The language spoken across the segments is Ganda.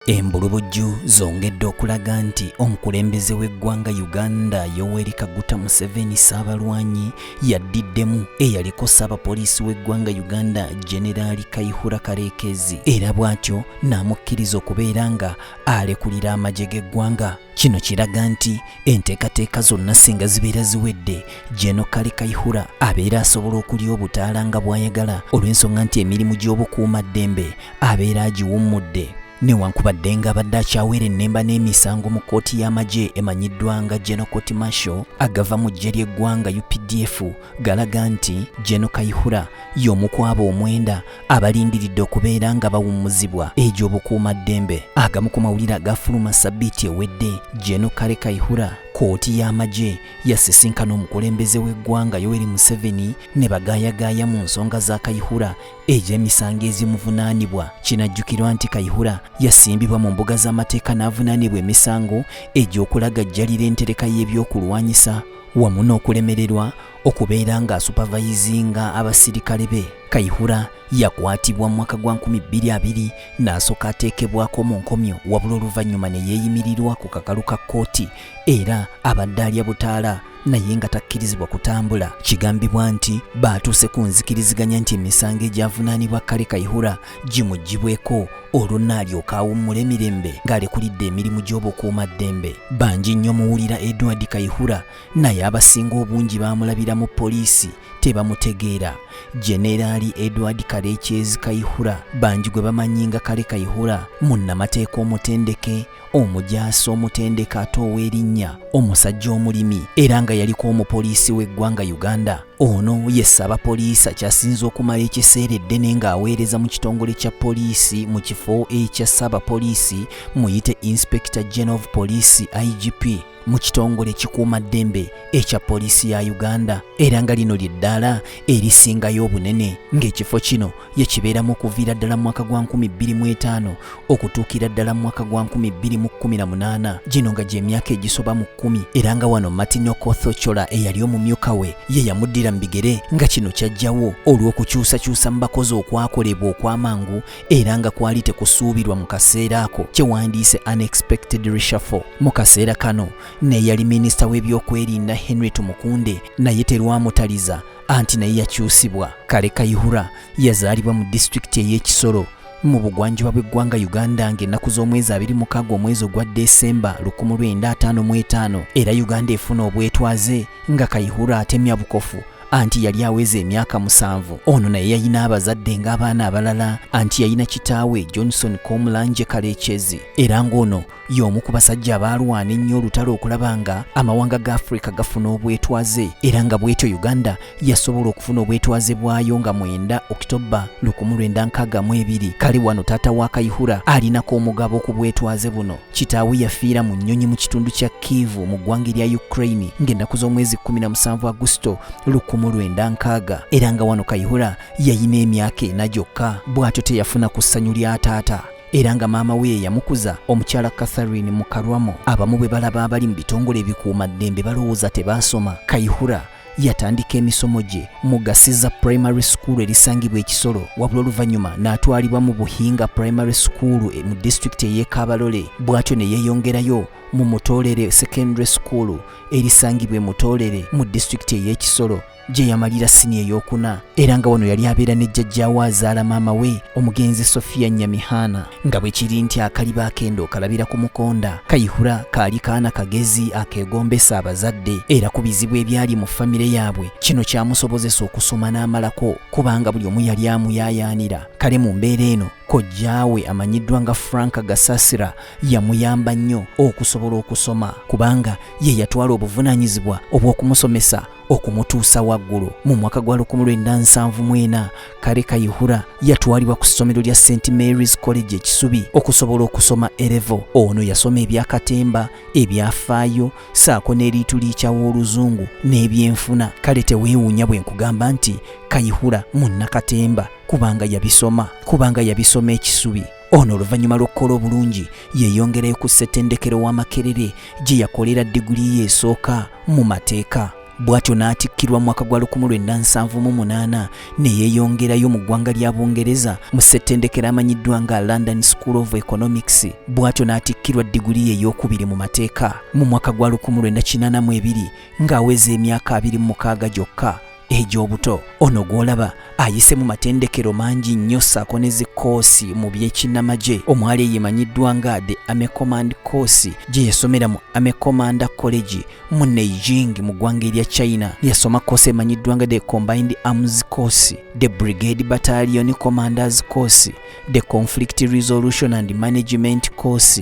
Embulubujju zongedde okulaga nti omukulembeze w'eggwanga Uganda Yoweri Kaguta Museveni Ssaabalwanyi yaddiddemu eyaliko ssaabapoliisi w'eggwanga Uganda Generaali Kayihura Kareekezi era bw'atyo n'amukkiriza okubeera nga alekulira amagye g'eggwanga Kino kiraga nti enteekateeka zonna singa zibeera ziwedde Jeno Kale Kaihura abeera asobola okulya obutaala nga bw'ayagala olw'ensonga nti emirimu gy'obukuuma ddembe abeera agiwummudde newankubadde nga abadde akyawera ennemba n'emisango mu kkooti y'amagye emanyiddwa nga Geno Court Martial agava mu ggye ly'eggwanga UPDF galaga nti Geno Kaihura y'omu kwabo omwenda abalindiridde okubeera nga bawummuzibwa egy'obukuumaddembe agamu ku mawulire agafuluma sabbiiti ewedde jeno kale kaihura kkooti y'amagye yasisinkana omukulembeze w'eggwanga yoweri museveni ne bagaayagaaya mu nsonga za kaihura egy'emisango ezimuvunaanibwa kinajjukirwa nti kaihura yasimbibwa mu mbuga z'amateeka n'avunaanibwa emisango egy'okulagajjalira entereka y'ebyokulwanyisa wamu n'okulemererwa okubeera nga asupavayizinga abasirikale be kaihura yakwatibwa mu mwaka gwa 2020 n'asooka ateekebwako mu nkomyo wabula oluvannyuma ne yeeyimirirwa ku kakalu ka kkooti era abadde alya butaala naye nga takkirizibwa kutambula kigambibwa nti baatuuse ku nzikiriziganya nti emisango egyavunaanibwa kale kaihura gimuggibweko olwo naalyoka awummula emirembe ng'alekulidde emirimu gy'obukuuma ddembe bangi nnyo muwulira edward kaihura naye abasinga obungi baamulabira mu poliisi tebamutegeera jeneraali edward kalekyezi kayihura bangi gwe bamanyi nga kale kayihura munnamateeka omutendeke omujaasi omutendeke ate ow'erinnya omusajja omulimi era nga yaliko omupoliisi w'eggwanga uganda ono ye ssabapoliisi akyasinza okumala ekiseera eddene ng'aweereza mu kitongole kya poliisi mu kifo ekya ssabapoliisi muyite inspector general of poliisi igp mu kitongole ekikuuma ddembe ekya poliisi ya uganda era nga lino lye ddaala erisingayo obunene ng'ekifo kino ye kibeeramu okuviira ddala mu mwaka gwa 25 okutuukira ddala mu mwaka gwa 218 gino nga gy'emyaka egisoba mu kkumi era nga wano martin okothocola eyali omumyuka we ye yamuddira mu bigere nga kino kyajjawo olw'okukyusakyusa mu bakozi okwakolebwa okw'amangu era nga kwali tekusuubirwa mu kaseera ako kyewandiise unexpected reshuffle mu kaseera kano neyali minisita w'ebyokwerinda henry tumukunde naye terwamutaliza anti naye yakyusibwa kale kayihura yazaalibwa mu disitulikiti ey'ekisoro mu bugwanjuba bw'eggwanga uganda ng'ennaku z'omwezi 26 omwezi ogwa desemba 1955 era uganda efuna obwetwaze nga kayihura atemya bukofu anti yali aweza emyaka musanvu ono naye yayina abazadde ng'abaana abalala anti yayina kitaawe johnson komulanje kalekyezi era ng'ono y'omu ku basajja abaalwana ennyo olutalo okulaba nga amawanga ga afrika gafuna obwetwaze era nga bwetyo uganda yasobola okufuna obwetwaze bwayo nga mwenda okitoba lukumu lwenda nkaaga mu ebiri kale wano taata wa kayihura alinako omugabo ku bwetwaze buno kitaawe yafiira mu nnyonyi mu kitundu kya kivu mu ggwanga erya ukraine ng'ennaku z'omwezi 17 agusito 19 era nga wano kayihura yayina emyaka ena gyokka bw'atyo teyafuna ku ssanyu lya taata era nga maama we yeyamukuza omukyala catherine mukarwamo abamu bwe balaba abali mu bitongole ebikuuma ddembe balowooza tebaasoma kayihura yatandika emisomo gye mu gasiza primary school erisangibwa ekisolo wabula oluvannyuma n'atwalibwa mu buhinga primary school e, mu disitulikiti ey'ekabalole bw'atyo ne yeeyongerayo mu mutoolere secondary school erisangibwa e mutoolere mu disitulikiti ey'ekisolo gye yamalira siniya ey'okuna era nga wano yali abeera ne jjajjaawe azaala maama we omugenzi sofiya nyamihaana nga bwe kiri nti akaliba akenda okalabira ku mukonda kayihura kaali kaana kagezi akeegombesa abazadde era ku bizibu ebyali mu famire yaabwe kino kyamusobozesa okusoma n'amalako kubanga buli omu yali amuyaayaanira kale mu mbeera eno kojjaawe amanyiddwa nga frank gasasira yamuyamba nnyo okusobola okusoma kubanga ye yatwala obuvunaanyizibwa obw'okumusomesa okumutuusa waggulu mu mwaka gwa 1974 kale kayihura yatwalibwa ku ssomero lya st marys college ekisubi okusobola okusoma erevo ono yasoma ebyakatemba ebyafaayo saako n'eriitu liikyawo oluzungu n'ebyenfuna kale teweewuunya bwe nkugamba nti kayihura munnakatemba kubanga yabisoma kubanga yabisoma ekisubi Ono oluvannyuma lw'okukola obulungi yeeyongerayo ku ssettendekero wa Makerere gye yakolera diguli ye esooka mu mateeka bw'atyo n'atikkirwa mu mwaka gwa 1978 ne yeeyongerayo mu ggwanga lya Bungereza mu ssettendekero amanyiddwa nga London School of Economics bw'atyo n'atikkirwa diguli ye ey'okubiri mu mateeka mu mwaka gwa 1982 ng'aweza emyaka 26 gyokka egy'obuto ono gw'olaba ayise mu matendekero mangi nnyo ssaako ne zikkoosi mu by'ekinnamagye omwali eyemanyiddwa nga the army command course gye yasomera mu army commander college mu neijing mu ggwanga erya china yasoma koosi emanyiddwa nga the combined arms course the brigade battalion commanders course the conflict resolution and management course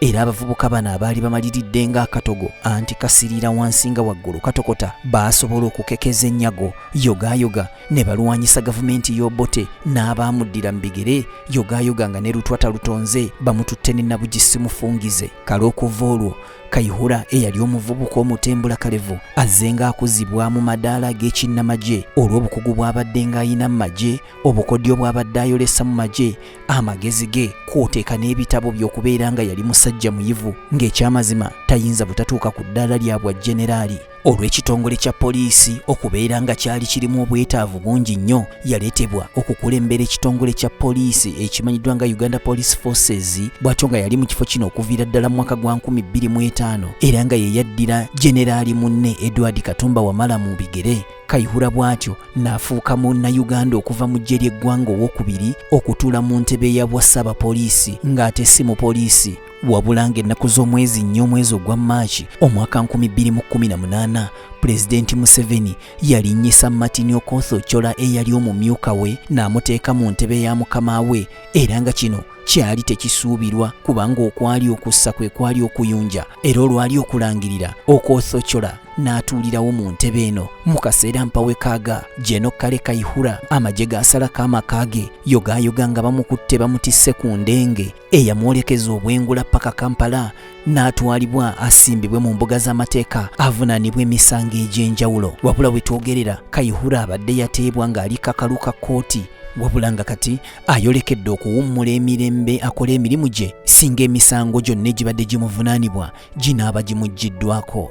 era abavubuka bano abaali bamaliridde ng'akatogo anti kasiriira wansi nga waggulu katokota baasobola okukekeza ennyago yogaayoga ne balwanyisa gavumenti y'obote n'abaamuddira mu bigere yogaayoga nga ne lutwata lutonze bamututte ne nabugisi mufungize kale okuva olwo kayihura eyali omuvubuka omutembula kalevu azze ng'akuzibwa mu madaala ag'ekinnamagye olw'obukugu bw'abadde ng'ayina mu magye obukodyo bw'abadde ayolesa mu magye amagezi ge kwoteeka n'ebitabo by'okubeera nga yali musajja muyivu ng'ekyamazima tayinza butatuuka ku ddaala lya bwa jeneraali olw'ekitongole kya poliisi okubeera nga kyali kirimu obwetaavu bungi nnyo yaleetebwa okukulembera ekitongole kya poliisi ekimanyiddwa nga uganda police forces bw'atyo nga yali mu kifo kino okuviira ddala mu mwaka gwa 25 era nga yeyaddira jeneraali munne edward katumba wamala mu bigere Kayihura bw'atyo n'afuuka Munnayuganda okuva mu ggye ly'eggwanga owokubiri okutuula mu ntebe ya bwa Ssaabapoliisi ng'ate si mupoliisi wabula ng'ennaku z'omwezi nnya omwezi ogwa Maaki omwaka 2018 Pulezidenti Museveni yalinnyisa Martin Okoth Ochola eyali omumyuka we n'amuteeka mu ntebe ya mukama we era nga kino kyali tekisuubirwa kubanga okwali okussa kwe kwali okuyunja era olwali okulangirira okwothocola n'atuulirawo mu ntebe eno mu kaseera mpawekaaga jeno kale kaihura amagye gaasalako amaka ge yogaayoga nga bamukutte bamutisse ku ndenge eyamwolekeza obwengula paka kampala n'atwalibwa asimbibwe mu mbuga z'amateeka avunaanibwa emisango egy'enjawulo wabula we twogerera kaihura abadde yateebwa ng'ali kakalu ka kkooti wabula nga kati ayolekedde okuwummula emirembe akola emirimu gye singa emisango gyonna egibadde gimuvunaanibwa ginaaba gimuggiddwako